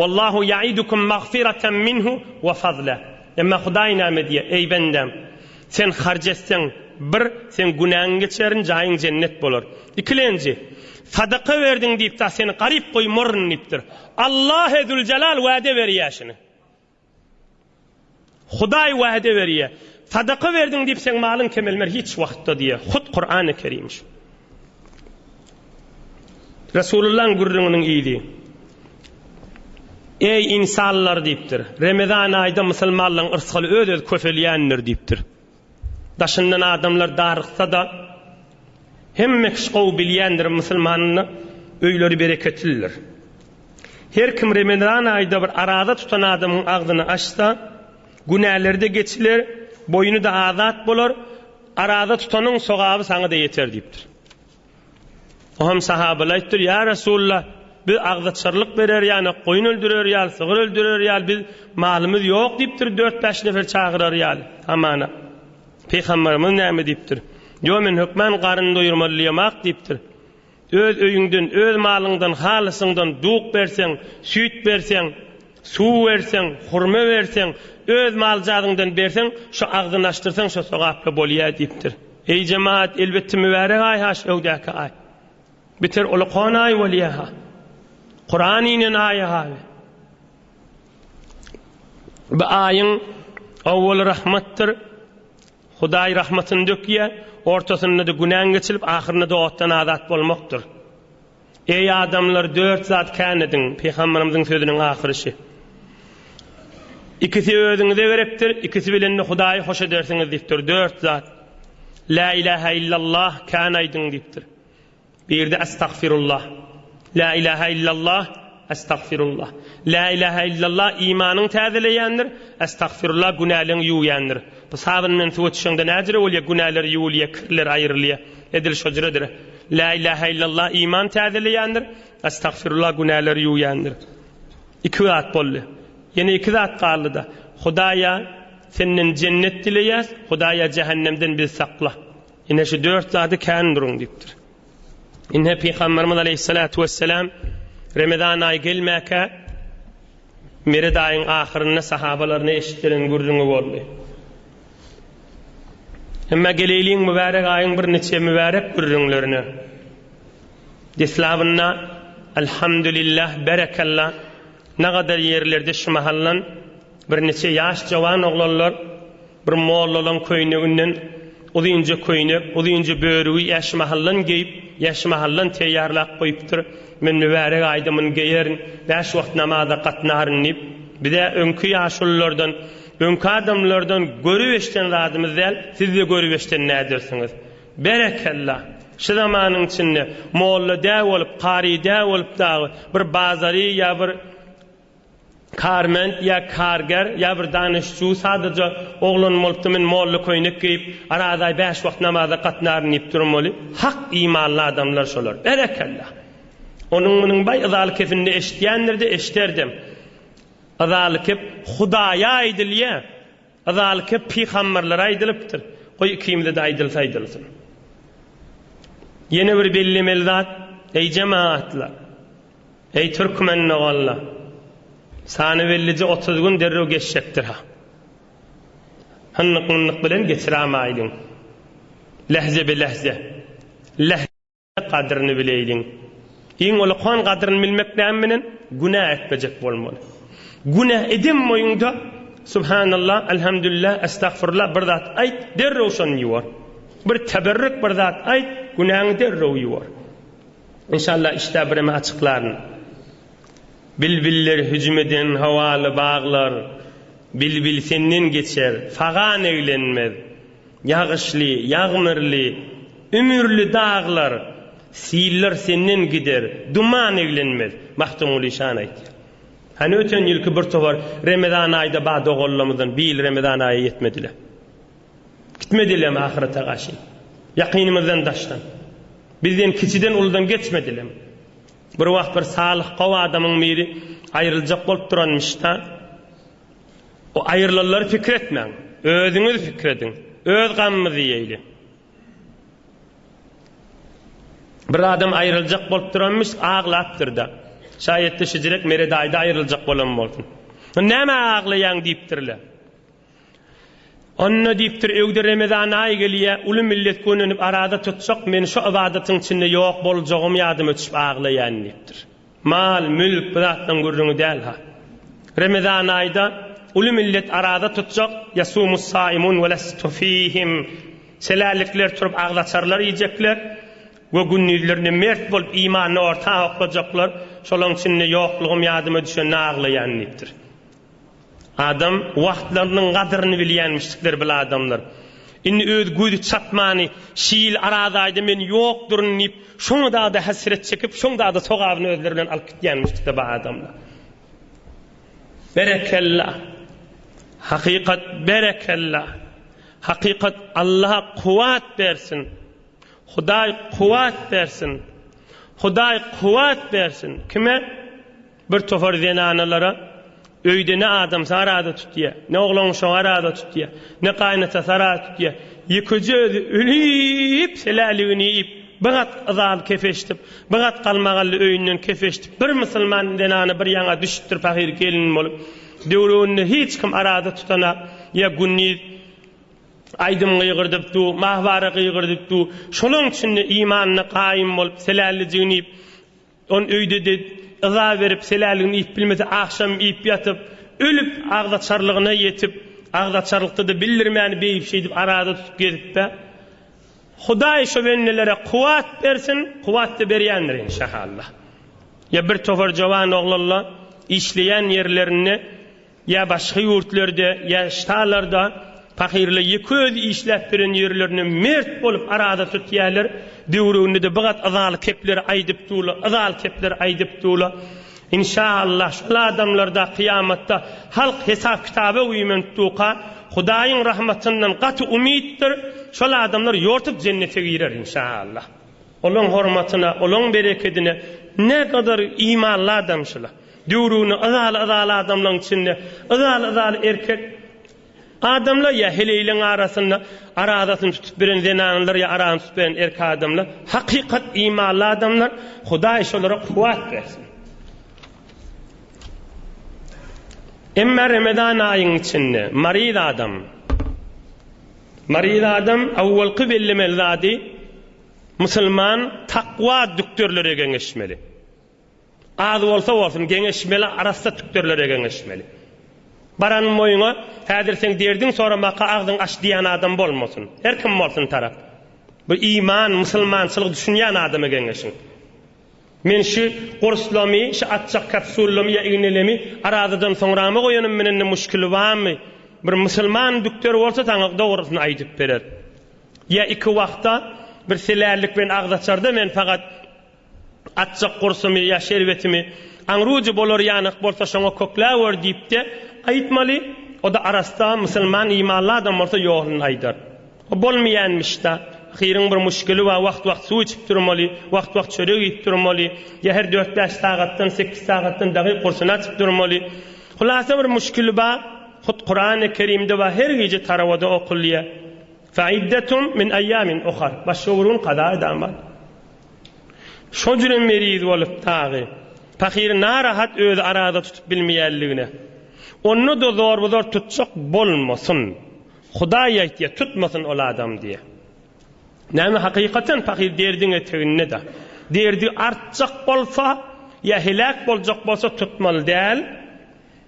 Wallahu ya'idukum magfiratan minhu wa fazla. Emma Hudaý näme diýýär, Eý, bendäm! Sen harç etseň, bir, seň günäňi geçerin, jaýyň jennet bolar. Ikilenji, Sadaka berdiň diýip-de seni garyp goýmaryn diýipdir. Allah-e Züljelal wäde berýär şuny. Hudaý wäde berýär. Sadaka berdiň diýip seň malyň kemelmer hiç wagtda diýýär. Hut Kurany Kerim şu. Resulullahyň gürrüňiniň yzy. Eý ynsanlar diýipdir. Remezan aýda musulmanlaryň yrsgaly öz-öz köpelýändir diýipdir. Daşyndan adamlar daryksa-da, hemme kişi gowy bilýändir, musulmanyň öýleri bereketlidir. Her kim remezan aýda bir araza tutan adamyň agzyny açsa, günäleri-de geçiler, boýny-da azat bolar, araza tutanyň sogaby saňa-da ýeter diýipdir. Soham sahabaly aýtdyr, Ýa Resulla, biz agzaçarlyk berer ýaly, goýun öldürer ýaly, sygyr öldürer ýaly, biz malymyz ýok diýipdir, dört-bäş nefer çagyrar ýaly, hamana. Pygamberimiz näme diýipdir? Ýo men hökman garyn doýurmalyýamak diýipdir. Öz öýüňden, öz malyňdan, halysyňdan duk berseň, süýt berseň, Suw berseň, hurma berseň, öz maljadyňdan berseň, şu agzyny açdyrsaň, şo sogaply bolýa diýipdir. Eý jemaat, elbetde mübärek aý-ha şu öwdäki aý. Biter ol okan aý bolýa-ha. Kuran inen aý-ha we bu aýyň owwaly rahmatdyr, Hudaý rahmatyny dökýä, ortasynda-da günäň geçilip, ahyrynda-da otdan azat bolmakdyr. Eý adamlar dört zat kän ediň, Pygamberimiziň sözüniň ahyryşy. Ikisi özüňize gerekdir, ikisi bilen-de Hudaýy hoş edersiňiz diýipdir. Dört zat. Lä ilähä illallah kän aýdyň diýipdir. Birde Estagfirullah. Lä ilähä illallah. Estagfirullah. Lä ilähä illallah imanyňy täzeleýändir, estagfirullah günäleňi ýuwýandyr. Bu sabyn bilen suwa çüşeňde näjüre bolýa, günäler ýuwulýa, kirler aýrylýa. Edil şo jüredir. Lä ilähä illallah iman täzeleýändir, estagfirullah günäler ýuwýandyr. Iki zat boldy. Ýene iki zat galdy-da. Hudaýa Senden jennet dileýäs, Hudaýa jähennemden bizi sakla. Ine şu dört zady kän duruň diýipdir. Ine Pygamberimiz Aleyhissalatu vesselam Ramazan aýy gelmäkä Mered aýyň ahyrynda sahabalaryna eşitdiren gürrüňi boldy. Emma geleýliň mübärek aýyň bir niçe mübärek gürrüňlerine. Deslabynda Elhamdülillah berekella nagadar ýerlerde şu mahallan Birniçe ýaş jowan oglanlar bir mollalaň köýneginden uzynja köýnek, uzynja börügi äşmahaldan geýip, äşmahaldan teýýarlap goýupdyr, Men mübärek aýdymyny geýerin, bäş wagt namaza gatnaryn diýip, biz-ä öňki ýaşululardan, öňki adamlardan görüp-eşden zadymyz däl, siz-de görüp-eşden nädersiňiz? Berekella! Şu zamanyň içinde molla dä bolup, kary dä bolup dagy bir bazary ýa bir Kärment ýa kärger ýa bir danyş-çu sadaja oglan bolupdy, men molla köýnek geýip, arazaý bäş wagt namaza gatnaryn diýip durun weli, hak imanly adamlar şolar. Berekella! Onuň munyň baý yzalkesinde eşitýändir-de, eşiderdem. Yzalkep Hudaýa aýdylýa. Yzaly köp pygamberlere aýdylypdyr, goý ikimize-de aýdylsa aýdylsyn. Ýene bir bellemeli zat, eý jemagatlar, eý türkmen doganlar, sany bellije otuz gün derrew geçjekdir-ha. Hynnyk-mynnyk bilen geçirämaýlyň. Lehze be lehze. Leh. Gadyryny bileýliň. Iň ulykan gadyryny bilmek näme bilen? Günä etmejek bolmaly. Günä eden boýuňda, Subhanalla, Elhamdülillah, Estagfurullah bir zat aýt, derrew şony ýuwar. Bir teberrük bir zat aýt, günäňi derrew ýuwar. Enşalla işdä bireme açyklaryn. Bilbiller hüjüm eden howaly baglar, Bilbil senden geçer, fagan eglenmez. Ýagyşly, ýagmyrly, ümürli daglar, siller senden gider, duman eglenmez, Magtymguly şany aýtýar. Hany öten ýylky bir towar Remezan aýda bar doganlarymyzdan bu ýyl Remezan aýa ýetmediler. Gitmedilermi ahyrete gaşy? Ýakynymyzdan daşdan. Bizden kiçiden uludan geçmedilermi? Bir wagt bir salyh gowy adamyň biri aýryljak bolup duranmyş-da. Bu aýrylanlary pikir etmäň. Özüňiz pikir ediň. Öz gamymyzy iýeýli. Bir adam aýryljak bolup duranmyş, aglapdyr-da. Şaýat-da şijirek Meret aýda aýryljak bolan bolsun. Nämä aglaýaň diýipdirler. Onda diýipdir, öýde Remezan aýy gelýä, uly millet gönenip arada tutjak, men şu ybadatyň içinde ýok boljagym ýadyma düşüp aglaýan diýipdir. Mal, mülk bu zatlaň gürrüňi däl-ha. Remezan aýda uly millet araza tutjak, Ýasumus-saýimun we lestu fihim, Selällikler turup agzaçarlar iýjekler we gündizlerinde mert bolup imanyny orta oklajaklar, şolaň içinde ýoklugym ýadyma düşende aglaýan diýipdir. Adam wagtlarynyň gadyryny bilýänmişdikler bil adamlar. Indi öz gözi çatmany şi ýyl araz aýda men ýok duryn diýip şoňa dagda hesret çekip şoň dagda sogabyny özleri bilen alyp gitýänmişdikler ba adamlar. Berekella. Hakykat berekella. Hakykat Allaha kuwat bersin. Hudaý kuwat bersin. Hudaý kuwat bersin. Kime? Bir topar zenanalara öýde ne adamsy arada tutýa, ne oglanuşagy arada tutýa, ne gaýynatasy arada tutýa, ýekeje özi ölüp, seläligini iýip, bir gat yzaly kefeşdip, bir gat galmagally öýünden kefeşdip, bir musulman zenana bir ýaňa düşüpdir pahyr gelin bolup. Döwrebinde hiç kim arada tutanok. Ýa gündiz aýdym gygyrdyp du, mahwara gygyrdyp du, şolaň üçin-de imanyna gaýym bolup, selälijigini iýip, Ol öýde-de yza berip, seläligini iýip bilmese, agşam iýip ýatyp, ölüp, agzaçarlygyna ýetip, agzaçarlykda-da bildirmän, beýip-şeýdip arada tutup gezip-ä. Hudaý şo bennelere kuwwat bersin, kuwwat-da berýändir enşahalla. Ýa bir topar jowan oglanla işleýän ýerlerinde. Ýa başga ýurtlarda, ýa ştalarda pahyrlar ýeke özi işläp beren ýerlerini mert bolup araza tutýärler, döwreginde-de bigat yzaly kepler aýdyp durla, yzaly kepler aýdyp durla. Inşa Allah, şol adamlarda kyýamatda halk hesap-kitaba uýmentuka, Hudaýyň rahmatyndan gaty umytdyr, şol adamlar ýortup jennete girer, inşa Allah. Olaň hormatyna, olaň berekedine nägadar imanly adamçylar. Döwrügini yzaly-yzaly adamlaň içinde, yzaly-yzaly erkek adamlar ýa heleýleň arasynda arazasyny tutup biren zenanlar ýa arasyny tutup biren erk adamlar, hakykat imanly adamlar, Hudaý şolara kuwwat bersin. Emma Remezan aýyň içinde maryz adam, maryz adam awwalky bellemeli zady musulman takwa dükderlere geňeşmeli. Az bolsa bolsun geňeşmeli arassa tükdürlere geňeşmeli. Baran moýuňa häzir seň derdiň soramaka agzyň aç diýän adam bolmasyn. Her kim bolsun tarap. Bir iman, musulmançylyk düşünýän adama geňeşiň. Men şu gurslamy, şu atjak kapsullamy ýa ignelemi arazadan soňrama goýanym menende muşkili bamy? Bir musulman dükdür bolsa saňa dogrysyny aýdyp berer. Ýa iki wagta bir selällik bilen agzaçarda men fakat Atjak gursumy ýa şerbetimi, aňrujy bolar ýanak bolsa şoňa kökläwer diýip-de aýtmaly, o-da arassa, musulman imanly adam bolsa ýoluny aýdar. O bolmaýanmyş-da, ahyryň bir muşkili bar, wagt-wagt suw içip durmaly, wagt-wagt çörek iýip durmaly, ýa her dört-bäş sagatdan, sekiz sagatdan dagy gursuny açyp durmaly. Hulasa bir muşkili bar, hut Kurany Kerimde bar, her gije tarawada okulýar, Fe iddetum min eýamin uhar, başga bir gün kaza edaman. Şo jünem meriz bolup dagy, pahyry narahat özi arada tutup bilmeýänligine, onda-da zorba-zor tutjak bolmasyn. Hudaý aýtýa, tutmasyn ol adam diýe. Näme, hakykatem pahyr derdiň eteginde-dä. Derdi artjak bolsa, ýa heläk boljak bolsa tutmaly däl.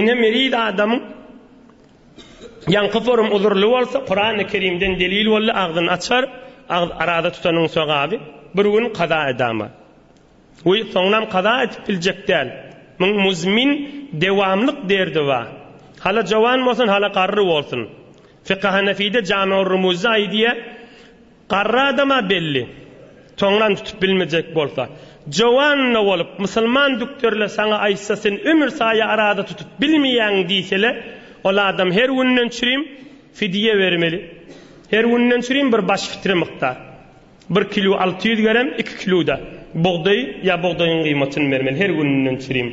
Ine meriz adamyň ýaňky forum uzurly bolsa kurany kerimden delil boldy agzyny açar agz araza tutanyň sogaby bir gün kaza edama we soňunam kaza edip biljek däl muň muzmin dewamlyk derdi ba hala jowan bolsun hala garry bolsun fikahanefide jamiurrumuzda aýdýa Garry adam-a belli. Soňram tutup bilmejek bolsa. Jowanna bolup, musulman dükderler saňa aýtsa, sen ömür saýa araza tutup bilmeýäň diýsele, ol adam her günden çürim fidýe bermeli. Her günden çürim bir baş fitre mukdar. Bir kilu alty ýüz gerem, iki kilu-da bugdaý ýa bugdaýyň gymatyny bermeli her günden çürim.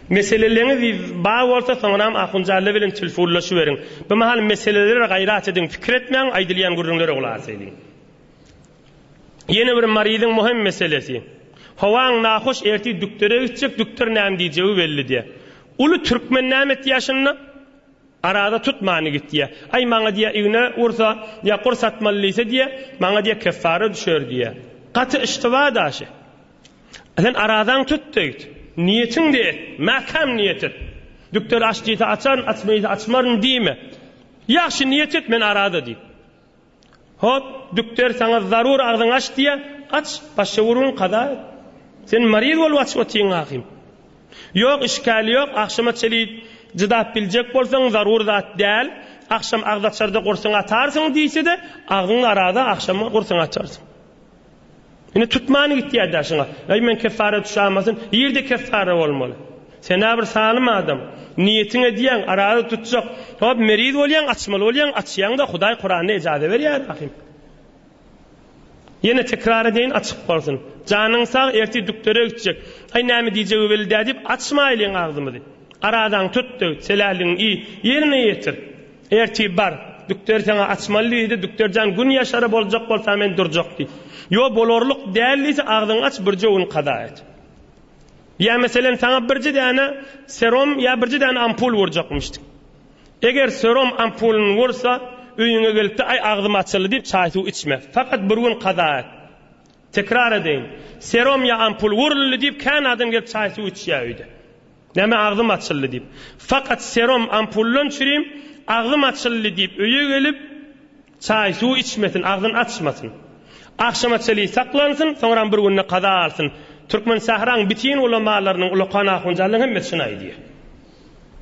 Meseleleňiz bar bolsa, soňram Ahunjalla bilen tilfunlaşyberiň. Bu mahal meselelere gaýrat ediň, pikir etmäň, aýdylýan gürrüňlere gulak ediň. Ýene bir maryzyň möhüm meselesi. Howaň nahoş, ertir dükdere gitjek, dükder näme diýjegi belli diýýär. Uly türkmen näme etýär şunda? Araza tutmany git diýýär. Aý, maňa diýýär, igne ursa ýa gurs atmaly diýse diýýär, maňa diýýär keffara düşer diýýär. Gaty yştyba daşy. Sen arazaň tut diýdi. Niýetiňde et, mäkäm niýet et. Dükder aç diýse açaryn, açma diýse açmaryn diýme. Ýagşy niýet et, men araza diýip. Hop, dükder saňa zarur agzyňy aç diýýä, aç, başa urgun kaza et. Sen maryz bolup açyp otyň ahym. Ýok, işgäli ýok, agşama çenli çydap biljek bolsaň zarur zat däl, agşam agzaçarda gursyňy atarsyň diýse-de, agzyňy araza, agşama gursyňy açarsyň. Indi tutmany gitýär daşyňa. Äý men keffara düşämasyn, ýerde keffara bolmaly. Sen-ä bir salym adam. Niýetiň edýäň, araza tutjak. Hop, meriz bolýaň, açmaly bolýaň, açýaň-da, Hudaý Kuranda ejaza berýär ahim. Ýene tekrar edeýin, açyk bolsun. Janyň sag, ertir dükdere gitjek. Äý näme diýjegi weli-dä diýip, açmaýlyň agzymyzy. Arazaňy tut-da git, seläligiňi iý, ýerine ýetir. Ertip bar, dükderi saňa açmaly diýdi, dükder jan gün ýaşara boljak bolsa men durjak diý. Ýo bolarlyk däl diýse agzyňy aç birje gün kaza et. Ýa meselem saňa birje däne serom ýa birje däne ampul wurjakmyşdy. Eger serom ampulyny wursa öýüňe gelipde aý agzym açyldy diýip çaý suw içme. Fakat bir gün kaza et. Tekrar edeýin, serom ýa ampul wuruldy diýip kän adam gelip çaý suw içýä öýde. Näme agzym açyldy diýip. Fakat serum ampullan çürim agzym açyldy diýip öýe gelip çaý suw içmesin agzyn açmasyn. Agşama çeli saklansyn soňram bir günde kaza alsyn. Türkmen sähraň bitin ulamalarynyň ulakan ahunjanlarynyň hemmesi şuny aýdýa.